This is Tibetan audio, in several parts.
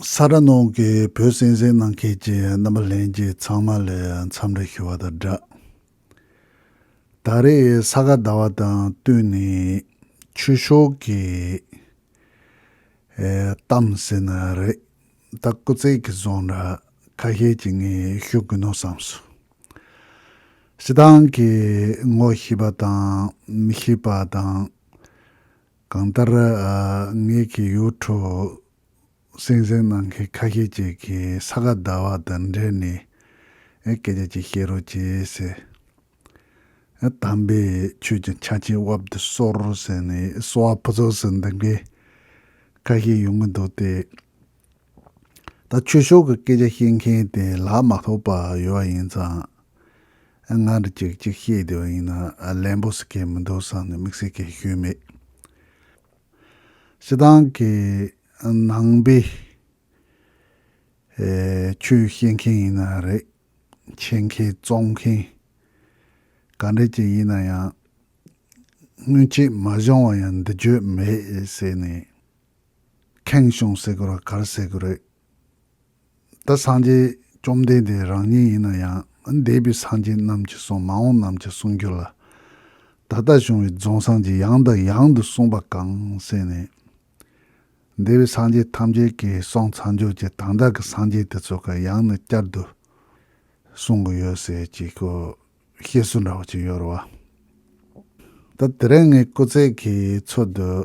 ས་ར་ནང་གི་བོད་གསན་གཟན་གནང་མཁན་གྱི་རྣམ་པ་ལྷན་རྒྱས་ཚང་མ་ལས་འཚམས་འདྲི་ཞུ་བ་དང་སྦྲགས། ད་རེས་ས་ག་ཟླ་བ་དང་བསྟུན་ནས་ཆོས་ཕྱོགས་ཀྱི་གཏམ་ཟེར་ན་རེད་ད་སྐུ་ཚེགས་ཀྱི་བཟང་འདྲ་ཁ་ཤས་ཀྱི་ངས་ཞུ་དགོས་ནོ་བསམ་སོང། སྤྱི་བཏང་གི་ངོ་ཤེས་པ་དང་མི་ཤེས་པ་དང། གང་ལྟར། ངེད་ཀྱི་ཡུལ་གྲུ་སེང་ཟན་གནང་མཁན་ཁ་ཤས་ཅིག་གིས་ས་ག་ཟླ་བ་དང་འབྲེལ་ནས་སྐད་ཆ་ཅིག་བཤད་རོགས་བྱས། དམ་པའི་ཆོས་ཀྱི་ཆ་ཆེན་དབབ་ཏུ་གསོལ་ཟེར་ནས་གསོལ་བ་ཕུན་ཚོགས་སུ་འདེབས་མཁན་ཁ་ཤས་ཡོང་གི་འདུག་སྟེ། ད་ཆོས་ཕྱོགས་ཀྱི་སྐད་ཆ་བཤད་མཁན་དེ་ལ་མ་ཐོགས་པ་ཡོད་པ་ཡིན་ཙང། ང་འདྲ་གཅིག་གཅིག་བཤད་བསྡད་པ་ཡིན་ན་ལན་པོ་ཟེར་མཁན་མི་འདུག་བསམ་ནས་དམིགས་བསལ་སྐད་ཤོད་མེད། སྤྱི་བཏང་གི་ནང་པའི་ཆོས་བཤད་མཁན་ཡིན་ན་རེད། འཆད་མཁན་རྩོམ་མཁན་ག་འདྲ་ཅིག་ཡིན་ན་ཡང། སྔོན་ཆད་མ་བྱུང་བ་ཡང་འདི་བརྗོད་མེད་ཟེར་ནས། ཁེངས་སྐྱུང་སེ་གོ་ར་གར་བསད་ཀྱི་རེད། ད་སངས་རྒྱས་བཅོམ་ལྡན་འདས་རང་ཉིད་ཡིན་ན་ཡང་འདས་པའི་སངས་རྒྱས་རྣམས་ཀྱི་གསུང་མ་འོངས་རྣམས་ཀྱི་གསུང་རྒྱུད་ལ། ད་ལྟ་བྱུང་བའི་རྫོང་སངས་རྒྱས་ཡང་དང་ཡང་དུ་གསུངས་པ་གང་གསན་ནས། འདས་པའི་སངས་རྒྱས་ཐམས་ཅད་ཀྱི་གསུང་ཚངས་སྦྱོར་གྱི་དང་བདག་གི་སངས་རྒྱས་དེ་ཚོ་གང་ཡང་ནས་བསྐྱར་དུ་གསུང་གི་ཡོད་ཟེར་གྱི་ཀོ་བཤད་སྲོལ་འདྲ་བ་ཅིག་ཡོད་རེད་བ། ད་དེ་རིང་ངའི་སྐུ་ཚེགས་ཀྱི་ཚོད་དུ།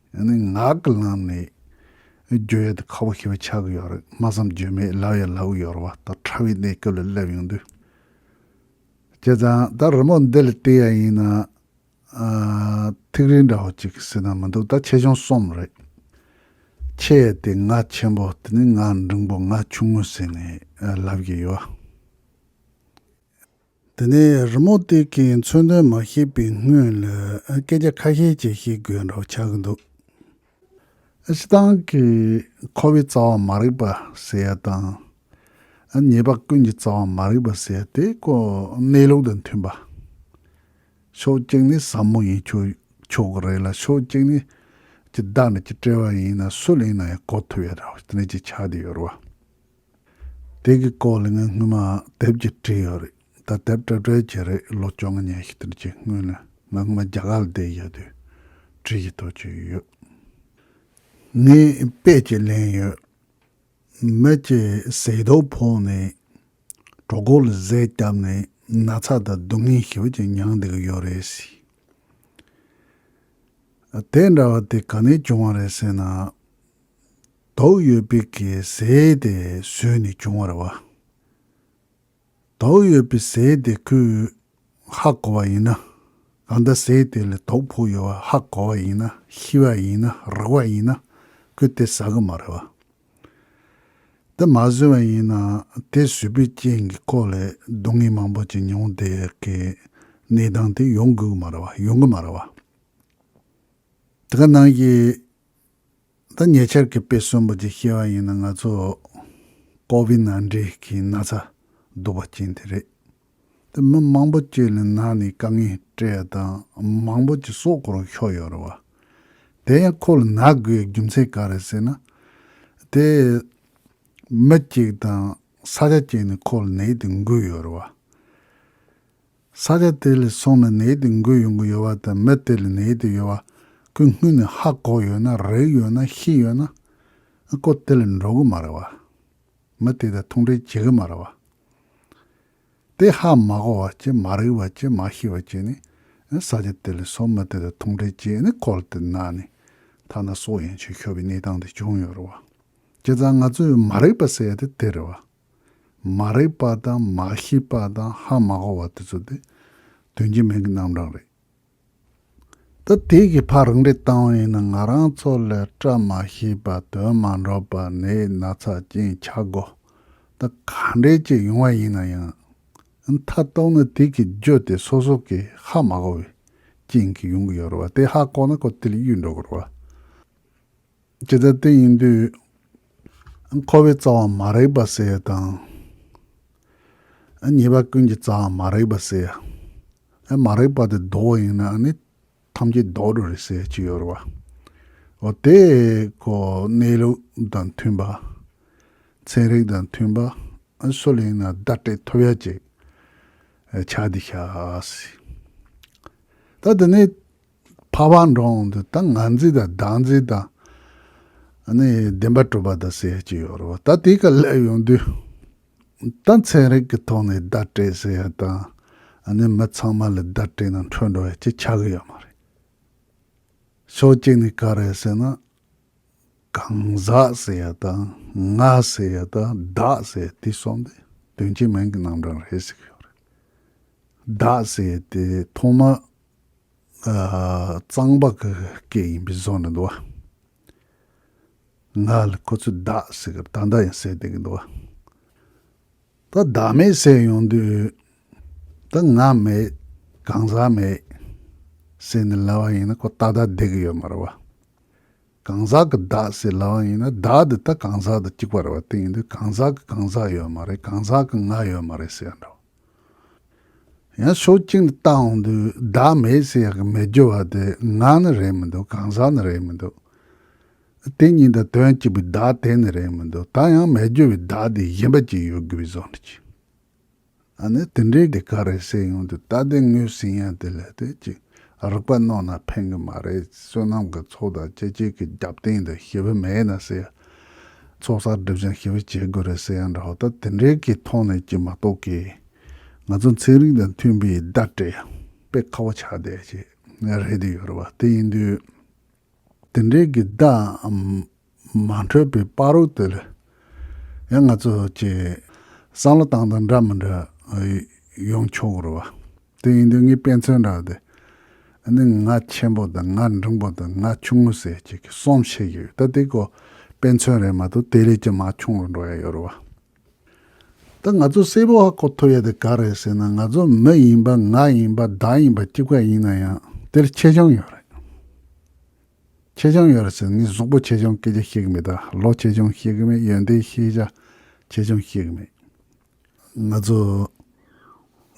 ནི་ངག་གི་ལམ་ནས་བརྗོད་ཡོད་དེ་ཁ་བོ་ཞེས་པ་ཆགས་ཀྱི་ཡོད་རེད་སྨྲ་བསམ་བརྗོད་མེད་ལབ་ཡང་ལབ་ཀྱི་ཡོད་རེད་བ་ད་ཕྲ་བའི་གནས་སྐབས་ལ་སླེབས་ཡོང་དུས། བྱས་ཙང་ད་རི་མོ་འདི་ལ་བལྟས་ཡ་ཡིན་ན། ཐིག་རིས་འདྲ་བོ་ཅིག་སྲིད་ན་མི་འདུག་ད་ཆེ་ཆུང་གསུམ་རེད། ཆེ་ཡི་དེ་ང་ཆེན་པོ་དེ་ནི་ང་འབྲིང་པོ་ང་ཆུང་ངུ་ཟེར་ནས་ལབ་ཀྱི་ཡོད། དེ་ནས་རི་མོ་སྟེགས་ཀྱི་མཚོན་དོན་མ་ཤེས་པའི་སྔོན་ལ་སྐད་ཆ་ཁ་ཤས་ཅིག་བཤད་དགོས་རེད་འདོད་ཆགས་ཀྱི་འདུག། སྤྱི་བཏང་གི་ཁོ་བོའི་རྩ་བ་མ་རིག་པ་ཟེར་ཡ་དང། ཉེས་པ་ཀུན་གྱི་རྩ་བ་མ་རིག་པ་ཟེར་ཡ་དེ་ཀོ་གནས་ལུགས་དང་མཐུན་པ། ཕྱོགས་གཅིག་ནས་ཟབ་མོ་ཡིན་ཆོག་གི་རེད་ལ་ཕྱོགས་གཅིག་ནས་ཀྱི་བདག་འདྲ་ཀྱི་བཀྲལ་བ་ཡིན་ན་སུ་ལེན་ན་ཡང་གོ་ཐུབ་ཡ་རེད་དེ་འདྲ་ཅིག་ཆགས་བསྡད་ཡོད་རེད་བ། དེ་གི་སྐོར་ལ་ངས་སྔོན་མ་དེབ་ཀྱི་བྲིས་ཡོད་རེད་ད་དེབ་བྲི་བྲི་བྱེད་རེད་ལོ་བཅོ་ལྔ་ཉེ་ཤི་དེར་ཁྱེད་སྔོན་ལ་ང་སྔོན་མ་རྒྱ་གར་ལ་བསྡད་ཡོད་དུས་བྲིས་ཀྱི་ཐོག་ཆོད་ཡོད་ཡོད་ངས་དཔེ་ཅིག་ལེན་ཡོད་མི་ཅིག་ཟས་རྡོག་ཕོག་ནས་གྲོག་སྒོ་ལ་ཟས་བསྐྱབས་ནས་ན་ཚ་དང་སྡུག་བསྔལ་ཞིབ་ཅིག་མྱངས་འདུག་ཡོད་རེད་ཟེར། དེ་འདྲ་བ་དེ་ག་ནས་བྱུང་བ་རེད་ཟེར་ན། དྭོགས་ཡོད་པིག་གིས་ཟས་དེ་ཟོས་ནས་བྱུང་བར་བ། དྭོགས་ཡོད་པིག་ཟས་དེ་ཁོས་ཧ་གོ་བ་ཡིན་ན། གང་ལྟར་ཟས་དེ་ལས་དྭོགས་ཕོག་ཡོད་བ་ཧ་གོ་བ་ཡིན་ན་ཤི་བ་ཡིན་ན་རག་བ་ཡིན་ན་ཁོས་དེ་ཟ་གི་མ་རེད་བ། དེ་མ་ཟོས་བ་ཡིན་ན་དེ་ཟོས་པའི་རྐྱེན་གིས་ཁོ་ལས་སྡུག་བསྔལ་མང་པོ་ཅིག་མྱོང་དེ་གི་ནད་དང་དེ་ཡོང་དགོས་གི་མ་རེད་བ་ཡོང་གི་མ་རེད་བ། དེ་ག་ནང་གི་ད་ཉེ་ཆར་གྱི་དཔེ་གསོན་པོ་ཅིག་ཤེས་པ་ཡིན་ན་ང་ཚོ་ཀོ་བི་ན་འདྲེ་གིས་ན་ཚ་སྡུག་པ་སྐྱེན་དེ་རེད། དེ་མི་མང་པོ་བཅོས་ལེན་ན་ནི་དཀའ་ངལ་སྤྲད་ཡོད་དང་མང་པོ་ཅིག་སྲོག་འཁོར་བའི་ཤོག་ཡོད་རེད་བ། དེ་ཡང་ཁོ་ལ་ན་དགོས་པའི་རྒྱུ་མཚན་ག་རེད་ཟེར་ན། དེ་མི་གཅིག་དང་ས་ཆ་གཅིག་ནས་ཁོ་ལ་ནད་དེ་འགོས་ཡོད་རེད་བ། ས་ཆ་དེ་ལས་སོང་ནས་ནད་དེ་འགོས་ཡོང་གི་ཡོད་པ་དང་མི་དེ་ལ་ནད་དེ་ཡོད་པ་ཁོས་སྔུན་ནས་ཧ་གོ་ཡོད་ན་རེག་ཡོད་ན་ཤེས་ཡོད་ན། ཨ་ཁོ་དེ་ལ་འགྲོ་གི་མ་རེད་བ། མི་དེ་དང་ཐུག་འབྲེལ་བྱེད་གི་མ་རེད་བ། དེ་ཧ་མ་གོ་བ་བཅས་མ་རེག་བ་བཅས་མ་ཤེས་བ་བཅས་ནས་ས་ཆ་དེ་ལས་སོང་མི་དེ་དང་ཐུག་འབྲེལ་བྱས་ནས་ཁོལ་དེ་ན་ནས་ཐ་ན་སྲོག་ཡང་ཆོད་ཤོར་བའི་གནས་སྟངས་དེ་བྱུང་ཡོད་རེད་བ། སྤྱིར་བཏང་ང་ཚོས་མ་རེག་པ་ཟེར་ཡ་དེ་དེ་རེད་བ། མ་རེག་པ་དང་མ་ཤེས་པ་དང་ཧ་མ་གོ་བ་དེ་ཚོ་དེ་དོན་གྱི་མིང་གི་རྣམ་གྲངས་རེད། ད་དེ་གི་ཕ་རང་རེ་བཏང་བ་ཡིན་ན་ང་རང་ཚོ་ལ་བཀྲ་མ་ཤིས་པ་དོན་མ་འགྲོ་པ་ནད་སྣ་ཚགས་ཅན་ཆགས་དགོ་ད་ག་འདྲའི་ཅིག་ཡོང་བ་ཡིན་ན་ཡང་མཐའ་གཏོགས་ན་དེ་གི་རྒྱུ་དེ་སོ་སོ་གི་ཧ་མ་གོ་བའི་རྐྱེན་གི་ཡོང་གི་ཡོད་རེད་བ་དེ་ཧ་གོ་ན་གོ་དེ་ལ་གཡུལ་འགྲོ་དགོ་རེད་བ། ཇི་ལྟར་དེ་ཡིན་དུས། འཁོར་བའི་རྩ་བ་མ་རེག་པར་བསལ་བ་དང། ཉེས་པ་ཀུན་གྱི་རྩ་བ་མ་རེག་པར་བསལ། མ་རེག་པ་དེ་ལྡོག་བ་ཡིན་ན་ནི། ཐམས་ཅད་ལྡོག་འགྲོ་རེ་བསལ་ཅི་ཡོད་རེ་བ། འོ་དེ་ཀོ་གནས་ལུགས་དང་མཐུན་པ། ཚན་རིག་དང་མཐུན་པ། སུ་ལ་ཡིན་ན་བརྡ་སྤྲད་ཐུབ་ཡ་ཅིག། ཕྱག་འདི་བྱ། ད་དེ་ནས། འཕགས་པ་འགྲོ་འོང་དུ་ད་ང་འཛིན་དང་བདག་འཛིན་དང། ནི་བདེན་པ་གྲུབ་པ་དང་ཟེར་གྱི་ཡོད་རེད། ད་དེ་ག་སླད་ཡོང་དུས། ད་ཚན་རིག་གི་ཐོག་ནས་བརྡ་སྤྲད་ཟེར་ཡ་དང། ནི་མི་ཚང་མ་ལ་བརྡ་སྤྲད་ན་འཕྲོད་འགྲོ་ཡ་ཅིག་ཆགས་གི་ཡོད་མ་རེད། ཕྱོགས་གཅིག་ནས་ག་རེད་ཟེར་ན། གང་ཟག་ཟེར་ཡ་དང་ང་ཟེར་ཡ་དང་བདག་ཟེར་ཡ་དེ་གསུམ་དེ་དོན་གྱི་མིང་གི་རྣམ་གྲངས་རེད་ཟེར་གི་ཡོད་རེད། བདག་ཟེར་ཡ་དེ་ཐོག་མར་གཙང་པགས་ཀྱི་སྐད་ཡིན་པའི་བཟོ་ནི་འདུག་ང་ལ་ཁོ་ཚོས་བདག་ཟེར་སྐབས་ད་ལྟ་ཡང་ཟེར་བསྡད་ཀྱི་འདུག་ད་བདག་མེད་ཟེར་ཡོང་དུས་ད་ང་མེད་གང་ཟག་མེད་ཟེར་ནས་ལབ་པ་ཡིན་ན་ཁོ་ད་ལྟ་བསྡད་ཀྱི་ཡོད་མ་རེད་བ། གང་ཟག་གི་བདག་ཟེར་ལབ་པ་ཡིན་ན་བདག་འདི་ད་གང་ཟག་དང་གཅིག་པ་རེད་བ་དེ་ཡིན་དུས་གང་ཟག་གི་གང་ཟག་ཡོད་མ་རེད་གང་ཟག་གི་ང་ཡོད་མ་རེད་ཟེར་ཡང་འདྲ་བ། ཡང་ཕྱོགས་གཅིག་ནས་ལྟ་འོང་དུས་བདག་མེད་ཟེར་ཡག་གི་མི་སྒྱུར་བ་དེ་ང་ནི་རེད་མི་འདུག་གང་ཟག་ནི་རེད་མི་འདུག་དེ་གཉིས་དང་དོན་གཅིག་པའི་བདག་དེ་ནི་རེད་མི་འདུག་ད་ཡང་མི་སྒྱུར་བའི་བདག་དེ་གཞན་པ་ཅིག་ཡོད་དགོས་པའི་བཟོ་འདྲ་གྱིས། ཨ་ནི་དེ་འདྲའི་དེ་ག་རེ་ཟེར་ཡོང་དུས་ད་དེ་ངོས་ཟིན་ཡང་དེ་ལས་དེ་ཅིག་རིག་པ་རྣོ་ན་ཕན་གི་མ་རེད་བསོད་ནམས་ཀྱི་ཚོགས་དང་སྤྱི་སྤྱོད་ཀྱི་རྒྱབ་རྟེན་དུ་ཞི་བ་མེད་ན་ཟེར་ཡག་ཚོགས་བསགས་སྒྲིབ་སྦྱང་ཞི་བ་བྱེད་དགོས་རེད་ཟེར་ཡང་འདྲ་བ་ལྟར་དེ་འདྲའི་གི་ཐོག་ནས་ཀྱི་མ་གཏོགས་ཀི། ང་ཚོ་ཚན་རིག་དང་མཐུན་པའི་བརྡ་སྤྲད་པའི་ཁ་བ་ཆགས་བསྡད་ཅིག་རེད་དེ་ཡོད་རེད་བ་དེ་ཡིན་དུས། དེ་འདྲའི་གི་བརྡ་མ་འཕྲོད་པའི་དཔའ་རོགས་དེ་ལ་ཡང་ང་ཚོ་ཀྱི་བསམ་བློ་བཏང་དང་འདྲ་མི་འདྲ་ཡོང་ཆོག་གི་རེད་བ། དེ་ཡིན་དུས་ངས་དཔེ་མཚོན་རག་སྟེ། ཨ་ནི་ང་ཆེན་པོ་དང་ང་འབྲིང་པོ་དང་ང་ཆུང་ངུ་ཟེར་གཅིག་གི་གསུམ་བཤད་ཀྱི་ཡོད་ད་འདི་ཀོ་དཔེ་མཚོན་རེད་མ་གཏོགས་དེ་ལས་ཀྱང་མ་ཆུང་བར་འགྲོ་ཡ་ཡོད་རེད་བ། ད་ང་ཚོ་སེར་པོ་ཧ་གོ་ཐུབ་ཡ་དེ་ག་རེད་ཟེར་ན་ང་ཚོ་མི་ཡིན་པ་ང་ཡིན་པ་བདག་ཡིན་པ་སྐྱིད་པ་ཡིན་ན་ཡང་དེར་ཆེ་ཆུང་ཡོད་རེད། ཆེ་ཆུང་ཡོད་རེད་ཟེར་ནས་ངས་གཟུགས་པོ་ཆེ་ཆུང་སྐད་ཆ་བཤད་གི་མེད་ད་ལོ་ཆེ་ཆུང་བཤད་གི་མེད་ཡོན་ཏན་ཤེས་བྱ་ཆེ་ཆུང་བཤད་གི་མེད། ང་ཚོ་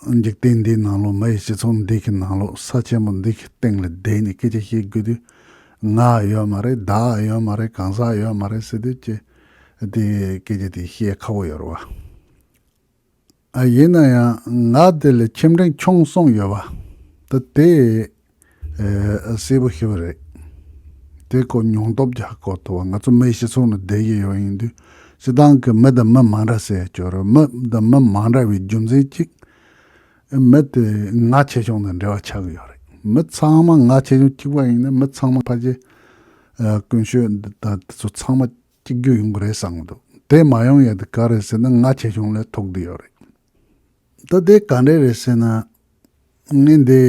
འཇིག་རྟེན་འདིའི་ནང་ལོགས་མི་ཡི་སྤྱི་ཚོགས་འདི་གི་ནང་ལོགས་ས་ཆེན་པོ་འདི་གི་སྟེང་ལ་བསྡད་ནས་སྐད་ཆ་བཤད་དགོས་དུས་ང་ཡོད་མ་རེད་བདག་ཡོད་མ་རེད་གང་ཟག་ཡོད་མ་རེད་ཟེར་དུས་ཀྱི་དེ་སྐད་ཆ་དེ་བཤད་ཁག་པོ་ཡོད་རེད་བ། ཡིན་ན་ཡང་ང་དེ་ལ་ཁྱིམ་དྲན་ཆུང་སོང་ཡོད་བ། ད་དེ་གསལ་པོ་ཤེས་པ་རེད། དེ་སྐོར་མྱོང་སྟོབས་རྒྱ་སྐོར་མཐོ་བ་ང་ཚོ་མི་སྤྱི་ཚོགས་ནང་བསྡད་ཀྱི་ཡོད་ཡིན་དུས་སྤྱི་བཏང་གི་མི་དང་མི་མང་འདྲ་སའི་སྐྱོ་རོས་མི་དང་མི་མང་འདྲ་བའི་རྒྱུ་མཚན་གཅིག་མི་དེ་ང་ཆེ་ཆུང་དང་འབྲེལ་བ་ཆགས་ཀྱི་ཡོད་རེད་མི་ཚང་མ་ང་ཆེ་ཆུང་གཅིག་པ་ཡིན་ན་མི་ཚང་མ་ཕ་གཞི་དཀོན་ཤོས་འདི་དང་དེ་ཚོ་ཚང་མ་གཅིག་གྱུར་ཡོང་གི་རེད་བསམ་གྱི་འདུག་དེ་མ་ཡོང་ཡས་དེ་ག་རེད་ཟེར་ན་ང་ཆེ་ཆུང་ལས་ཐོག་དེ་ཡོད་རེད། ད་ལྟའི་ག་འདྲས་རེད་ཟེར་ན། ངས་འདི།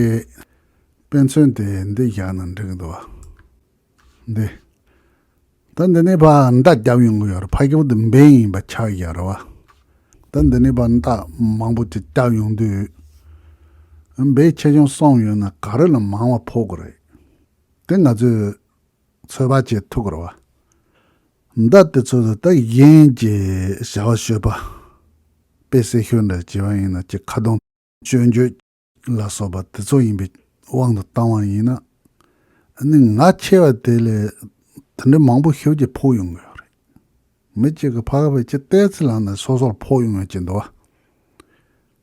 དཔེ་མཚོན་དེ་འདི་བཞག་ན་འགྲིག་འདུག་བ། འདི། ད་འདི་ནས་བར་མདའ་བརྒྱབ་ཡོང་གི་ཡོད་རེད་ཕ་ཁྱེའུ་འདི་འབེན་ཡིན་པ་ཆགས་ཀྱི་ཡོད་རེད་བ། ད་འདི་ནས་བར་མདའ་མང་པོ་ཅིག་བརྒྱབ་ཡོང་དུས། འབེན་ཆེ་ཆུང་སོང་ཡོད་ན་ག་རེ་ལ་མང་བ་ཕོག་གི་རེད། དེ་ང་ཚོས། ཚོལ་བ་བཅས་ཐུགས་ཁུར་བ། མདའ་དེ་ཚོ་ལ་ད་གཞན་གྱི་བྱ་བ་ཤོད་པ། དཔེ་བསྲེ་ཤོད་འདྲ་བྱེད་པ་ཡིན་ན་ཅི་ཁ་གདོང། སྤྱོད་འཇུག། ལ་སོགས་པ་དེ་ཚོ་ཡིན་པའི་དབང་དུ་བཏང་བ་ཡིན་ན། ནི་ང་ཆེ་བ་དེ་ལས་དེ་འདྲའི་མང་པོ་ཤོས་ཀྱིས་ཕོག་ཡོང་གི་ཡོད་རེད། མི་གཅིག་གི་ཕ་ག་བས་ཅི་བལྟས་ཚེ་ལ་ནི་སོ་སོར་ཕོག་ཡོང་ཡོད་ཅེས་འདོད་བ།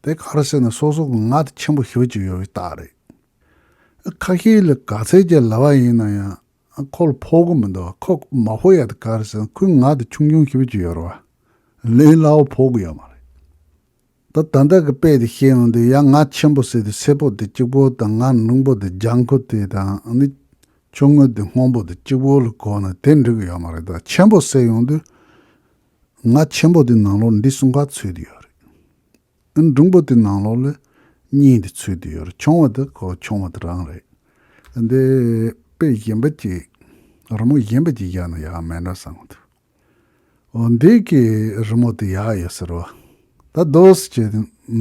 དེ་ག་རེ་བྱས་ན་སོ་སོ་གི་ང་དེ་ཆེན་པོ་ཤོས་ཀྱི་ཡོད་པའི་རྟགས་རེད། ཁ་ཤས་ལ་ག་ཚད་ཀྱི་ལྭ་བ་ཡིན་ན་ཡང་ཁོག་ལ་ཕོག་གི་མི་འདུག་ཁོག་མ་ཕོག་ཡག་དུ་གར་སོང་ཁོའི་ངག་དེ་ཆུང་ཆུང་ཞིབ་ཀྱི་ཡོད་རེད་བ། ལན་སླ་བོ་ཕོག་གི་ཡོད་མ་རེད། ད་ད་ལྟ་གི་དཔེ་དེ་ཤེས་ཡོང་དུས་ཡ་ང་ཆེན་པོ་བསད་དུས་སེར་པོ་དེ་གཅིག་པོ་དང་ང་རླུང་པོ་དེ་ལྗང་ཁུ་དེ་དང་ནི་ཆུང་ངུ་དེ་སྔོན་པོ་དེ་གཅིག་པོ་ལ་གོ་ན་དེ་འགྲིག་གི་ཡོད་མ་རེད་ད་ཆེན་པོ་བསད་ཡོང་དུས་ང་ཆེན་པོ་དེ་ནང་ལོགས་འདི་གསུམ་ག་ཚུད་དུ་ཡོད་རེད། འབྲུམ་བུ་དེ་ནང་ལོགས་ལ་གཉིས་དེ་ཚུད་དེ་ཡོད་ཆུང་བ་དེ་གོ་ཆུང་བ་དེ་རང་རེད། འདི་དཔེ་གཞན་པ་ཅིག་རི་མོ་གཞན་པ་ཅིག་བཞག་ན་ཡག་མེད་འདྲ་བསམ་གི་འདུག་འོ་འདི་གི་རི་མོ་དེ་ཡག་ཡོད་ཟེར་བ་ད་རྡོས་ཀྱི་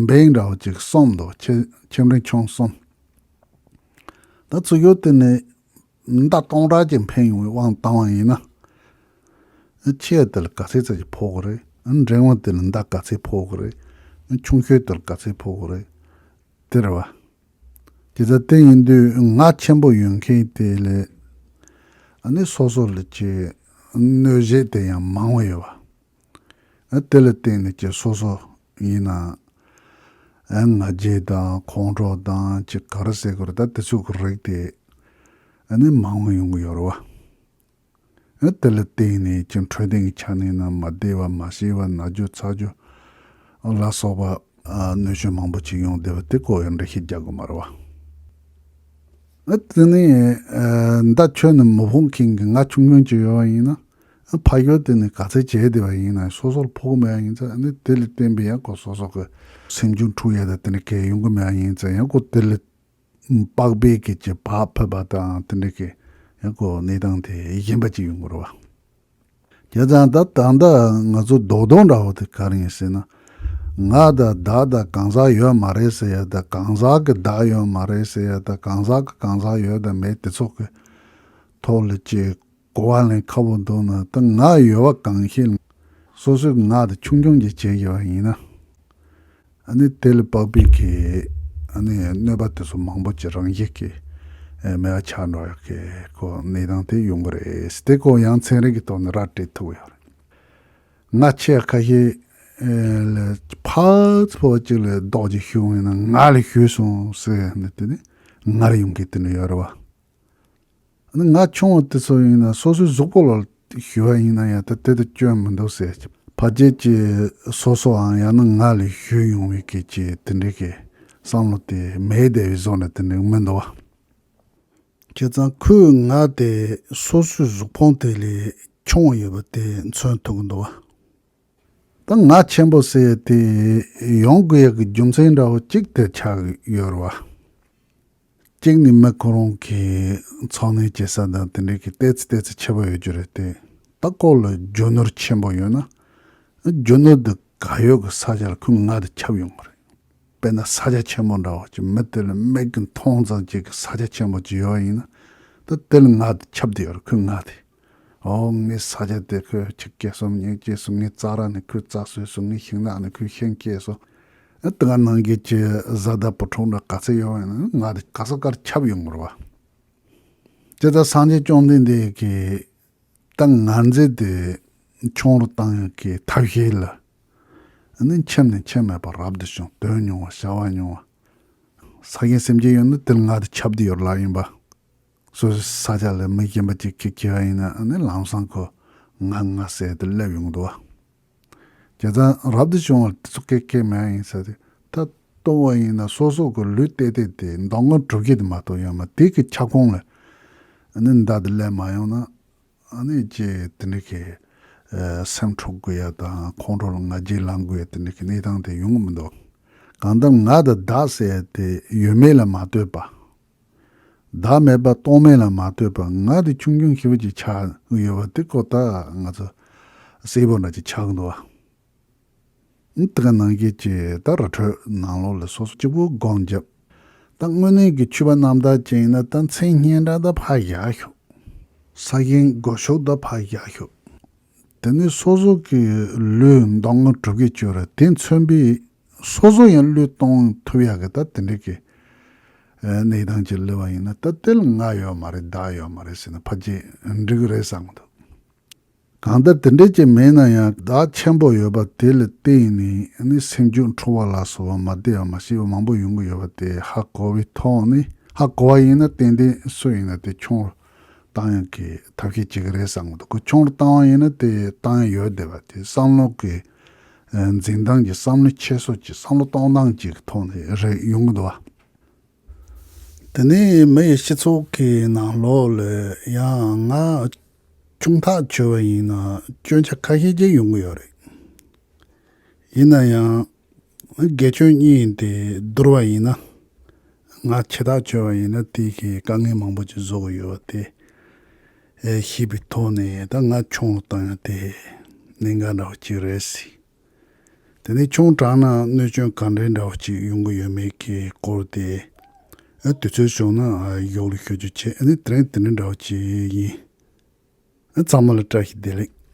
འབེང་འདྲ་བོ་ཅིག་གསུམ་འདུག་ཁྱིམ་རིང་ཆུང་གསུམ། ད་ཚུགས་ཡོད་དེ་ནི་ཉི་ཟླ་སྟོང་ཕྲག་གཅིག་འཕེན་ཡོང་བའི་དབང་བཏང་བ་ཡིན་ན། ཁྱེད་དེ་ལ་ག་ཚད་ཙམ་གྱིས་ཕོག་གི་རེད། འགྲན་དབང་དེ་ལ་ཟླ་ག་ཚད་ཕོག་གི་རེད། ཁྱུང་ཤོད་དེ་ལ་ག་ཚད་ཕོག་གི་རེད། དེར་བ། དེ་ལྟར་བསྟན་ཡིན་དུས་ངག་ཆེན་པོ་ཡོད་མཁན་དེ་ལས། ནི་སོ་སོ་ལ་ཀྱི་གནོད་གཞི་དེ་ཡང་མང་བ་ཡོད་བ། དེ་ལ་བརྟེན་ནས་ཀྱི་སོ་སོ་ཡིན་ན་ཨང་ང་རྗེས་དང་ཁོང་ཁྲོ་དང་ཅི་ག་རུ་ཟེར་དགོས་རེད་ད་དེ་ཚོའི་གི་རིགས་དེ་ནི་མང་བོ་ཡོང་གི་ཡོད་རེད་བ། ཨ་དེ་ལ་བརྟེན་ནས་ཀྱང་འཕྲོད་བསྟེན་གི་ཆ་ནས་ནི་མ་བདེ་བ་མ་ཤེས་བ་ན་རྒྱུ་ཚ་རྒྱུ་ལ་སོགས་པ། གནོད་སྐྱོན་མང་བོ་ཅིག་ཡོང་བདེ་བ་དེ་སྐོར་ཡང་འགྲེལ་བཤད་རྒྱག་དགོས་མ་རེད་བ། ཨ་དེ་ནས་ཟླ་ཁྱོད་ནི་མི་ཕོངས་མཁན་གི་ང་ཆུང་མོན་གྱི་ཡོད་བ་ཡིན་ན། ཕ་ཡུལ་དེ་ནི་དགའ་ཚལ་བྱས་བསྡད་པ་ཡིན་ན་སོ་སོར་ཕོག་གི་མེད་ཡ་ཡིན་ཚེ་ནི་དེ་ལས་བརྟེན་པའི་ཡང་སྒོ་སོ་སོ་གི་སེམས་བྱུང་འཁྲུགས་ཡ་དང་དེ་འདྲའི་གས་ཡོང་གི་མེད་ཡ་ཡིན་ཚེ་ཡང་སྒོ་དེ་ལས་དཔག་པའི་སྐད་ཅིག་བག་ཕེབས་པ་དང་དེ་འདྲའི་གས་ཡང་སྒོ་གནས་སྟངས་དེ་གཞན་པ་ཅིག་ཡོང་གི་རེད་བ། དེ་ཙང་ད་ད་ལྟ་ང་ཚོ་རྡོག་རྡོག་འདྲ་བོ་དེ་ག་རེ་ཡིན་ཟེར་ན། ང་དང་བདག་དང་གང་ཟག་ཡོད་མ་རེད་ཟེར་ཡ་དང་གང་ཟག་གི་བདག་ཡོད་མ་རེད་ཟེར་ཡ་དང་གང་ཟག་གི་གང་ཟག་ཡོད་དང་མེད་དེ་ཚོགས་ཀྱི་ཐོག་ལས་ཀྱི་གོ་བ་ལེན་ཁག་པོ་འདུག་ན་དང་ངག་ཡོད་པ་གང་ཞིག་སོ་སོའི་ངག་དེ་ཆུང་ཆུང་གིས་བྱེད་དགོས་པ་ཡིན་ན་ནི་དེ་ལས་པགས་པས་ཀྱི་གནོད་པ་དེ་ཚོ་མང་པོ་ཅི་རང་བཞིན་གྱིས་མེད་པ་ཆགས་འགྲོ་ཡག་གི་གོ་གནས་སྟངས་དེ་ཡོང་གི་རེད་དེ་གོ་ཡང་ཚན་རིག་གི་ཐོག་ནས་ར་སྤྲད་ཐུབ་ཀྱི་ཡོད་རེད། ང་ཁྱེད་ཁ་ཤས་ལ་ཕག་པོ་གཅིག་ལ་རྡོག་གཅིག་ཤོད་ཡོང་ན་ང་ལ་ཤོད་སོང་ཟེར་ཡོང་ན་དེ་ནི་ང་ལ་ཡོང་གི་དེ་འདྲ་ཡོད་རེད་བ། ཨ་ནི་ང་ཆུང་བ་དེ་ཚོ་ཡིན་ན་སོ་སོའི་གཟུགས་པོ་ལ་ཞུ་བ་ཡིན་ན་ཡང་ད་དེ་དུ་སྐྱོན་མི་འདུག་ཟེར་གྱི། ཕ་རྒྱལ་གྱི་སོ་སོའང་ཡང་ན་ང་ལས་བཞུད་ཡོང་བའི་སྐད་ཀྱི་དེ་འདྲའི་གི་བསམ་བློ་དེ་མེའི་ལྡེ་བའི་གཟུགས་ནས་དེ་འདྲའི་མི་འདུག་བ། ཁྱེད་ཚང་ཁོའི་ང་དེ་སོ་སོའི་གཟུགས་ཕོངས་དེ་ལས་ཆུང་བ་ཡོད་པ་དེ་མཚོན་ཐུབ་གི་འདུག་བ། ད་ང་ཆེན་པོ་ཟེར་དེ་ཡོང་དགོས་ཡག་གི་རྒྱུ་མཚན་འདྲ་བོ་གཅིག་དེ་ཆགས་ཡོད་རེད་བ། གཅིག་ནི་མི་ཁོ་རང་གི་འཚོ་གནས་བྱེད་ས་དང་དེ་འབྲེལ་གྱི་ལྟས་ཚུལ་ལྟས་ཚུལ་ཆེ་བ་ཡོད་རྒྱུ་རེད་དེ། ད་ལྐོག་ལ་རྒྱུ་ནོར་ཆེན་པོ་ཡོད་ན། རྒྱུ་ནོར་དེ་ག་ཡོད་གི་ས་ཆ་ལ་ཁོས་ང་དང་ཁྱབ་ཡོང་གི་རེད། དཔེར་ན་ས་ཆ་ཆེན་པོ་འདྲ་བ་གཅིག་མི་དེ་ལ་མིག་གིས་མཐོང་ཙང་བྱེད་གི་ས་ཆ་ཆེན་པོ་གཅིག་ཡོད་ཡིན་ན། ད་དེ་ལ་ང་དང་ཁྱབ་དེ་ཡོད་རེད་ཁོས་ང་དེ། འོ་ངའི་ས་ཆ་དེ་ཁོས་ཁྱི་སྐད་གསུམ་ཉིན་སྐྱེས་སུ་ངའི་རྩྭ་ར་ནི་ཁོའི་རྩྭ་སོས་སུ་ངའི་ཤིང་ནགས་ནི་ཁོའི་ཤིང་སྐྱེས་སོ། དེ་ག་ནང་གི་ཀྱི་བཟའ་ཟླ་བུ་ཕྲུག་འདྲ་ག་ཚད་ཡོད་ཡོང་ན་ང་དེ་ག་ས་གར་ཁྱབ་ཡོང་དགོས་རེད་བ། ཅི་ལྟར་སངས་རྒྱས་བཅོམ་ལྡན་འདས་ཀྱིས་ད་ང་མཛེས་དེ་ཆུང་རུ་བཏང་ཡོང་གི་ཐབས་ཤེས་ལ་ནི་འཁྱེར་ནས་འཁྱེར་མེད་པར་རབ་ཏུ་བྱུང་དོན་ཉུང་བ་བྱ་བ་ཉུང་བ། ས་གཞན་སེམས་ཅན་ཡོད་ན་དེར་ང་དེ་ཁྱབ་དུ་ཡོད་ལགས་ཡིན་པ། སོ་སོའི་ས་ཆ་ལས་མི་གཞན་པ་ཅིག་གིས་ཁྱེར་བ་ཡིན་ན་ནི་ལམ་སང་ཁོས་ང་ང་ཟེར་ཏེ་སླེབས་ཡོང་གི་འདུག་བ། ཇི་ཙམ་རབ་ཏུ་བྱུང་བ་དེ་ཚོ་སྐད་སྐད་མེད་ཡིན་ས་དེ་ད་སྟོང་བ་ཡིན་ན་སོ་སོ་གི་ལུས་བལྟས་བལྟས་དེ་མདང་དགོང་དྲུག་གི་དེ་མ་གཏོགས་ཡོད་མ་དེ་གི་ཁྱབ་ཁོངས་ལས་ནི་འདའ་དེ་སླེབས་མ་ཡོང་ན་ནི་ཅི་དེ་འདྲ་གི་སེམས་འཕྲོག་དགོས་ཡ་དང་ཁོང་ཁྲོ་ལ་ང་རྒྱལ་ལང་དགོས་ཡ་དེ་འདྲ་གི་གནས་སྟངས་དེ་ཡོང་གི་མི་འདུག་གང་ལྟར་ང་དང་བདག་ཟེར་ཡ་དེ་ཡོད་མེད་ལ་མ་ལྟོས་པ། བདག་མེད་པ་རྟོག་མེད་ལ་མ་ལྟོས་པར་ང་དེ་ཆུང་ཆུང་ཤི་བོ་ཅིག་ཆགས་ཡོད་པ་དེ་ཁོ་ཐག་ང་ཚོ་སེར་པོ་འདྲ་ཅིག་ཆགས་འདུག་ཨང། དེ་ག་ནང་ཁྱེད་ཀྱི་ད་ར་འཕྲོས་ནང་ལོགས་ལ་སོ་སོ་གཅིག་པུ་སྒོ་འབྱེད། ད་དངོས་གནས་ཀྱི་ཆུ་བ་གནམ་དག་ཅན་ཡིན་ན་ད་མཚན་སྙན་གྲགས་ད་ཕ་བཞག་ཤོག། ས་གཞན་སྒོ་ཤོག་ད་ཕ་བཞག་ཤོག། དེ་ནི་སོ་སོ་གི་ལུས་མདོག་དངོས་གྲུབ་ཀྱིས་བཅོས་ར་དེ་མཚོན་པས་སོ་སོ་ཡང་ལུས་སྟོང་ཐུབ་ཡག་གི་ད་དེ་འདྲས་ཀྱི་གནས་སྟངས་ཀྱི་ལུས་བ་ཡིན་ན་ད་དེལ་ང་ཡོད་མ་རེད་བདག་ཡོད་མ་རེད་ཟེར་ན་ཕ་ཇེ་འགྲིག་གི་རེད་བསམ་གི་འདུག་གང་ལྟར་དེ་འདྲས་ཀྱི་མེད་ན་ཡང་བདག་ཆེན་པོ་ཡོད་པ་དེ་ལ་བརྟེན་ནས་ནི་སེམས་རྒྱུད་འཕྲོ་བ་ལ་སོགས་པ་མ་བདེ་བ་མ་ཤེས་པ་མང་པོ་ཡོང་གི་ཡོད་པ་དེ་ཧ་གོ་བའི་ཐོག་ནས་ཧ་གོ་བ་ཡིན་ན་ཏན་ཏན་སུ་ཡིན་ན་དེ་ཁྱུང་རུ་ཏང་ཡོན་གྱིས་ཐབས་ཤེས་བྱེད་ཀྱི་རེད་བསམ་གི་འདུག་གུ་ཆུང་རུ་བཏང་བ་ཡིན་ན་དེ་ཏང་ཡོན་ཡོད་བསྡད་པ་དེ་བསམ་བློ་གི་འཛིན་སྟངས་ཀྱི་བསམ་བློ་འཁྱེར་སོ་ཀྱི་བསམ་བློ་གཏོང་སྟངས་ཀྱི་ཐོག་ནས་རེད་ཡོང་གི་འདུག་བ། དེ་ནས་མི་ཡི་སྤྱི་ཚོགས་ཀྱི་ནང་ལོགས་ལས་ཡང་ང་ཅུང་ཐག་ཆོད་བ་ཡིན་ན་སྐྱོན་ཆ་ཁ་ཤས་ཀྱི་ཡོང་གི་ཡོད་རེད། ཡིན་ན་ཡང་དགེ་ཆོས་གཉིས་ཡིན་ཏེ་བསྡུར་བ་ཡིན་ན། ང་འཆི་བདག་བྱོས་བ་ཡིན་ན་དེའི་གི་དཀའ་ངལ་མང་པོ་ཅིག་བཟོ་གི་ཡོད་བ་དེ། ཤེས་པའི་ཐོག་ནས་ད་ང་ཆུང་བ་དང་ཡང་དེ་གནད་འགག་འདྲ་བོ་ཅིག་རེད་སྲིད། དེ་ནས་ཆུང་དྲགས་ན་གནོད་སྐྱོན་ག་འདྲའི་འདྲ་བོ་ཅིག་ཡོང་གི་ཡོད་མེད་ཀྱི་སྐོར་དེ། དུས་ཚོད་བྱུང་ན་ཡོག་ལུགས་ཤོད་རྒྱུ་བྱེད་ཨ་ནི་དེ་རིང་དེ་འདྲ་འདྲ་བོ་ཅིག་ཡིན། ཨ་ཚང་མ་ལ་བཀྲ་ཤིས་བདེ་ལེགས།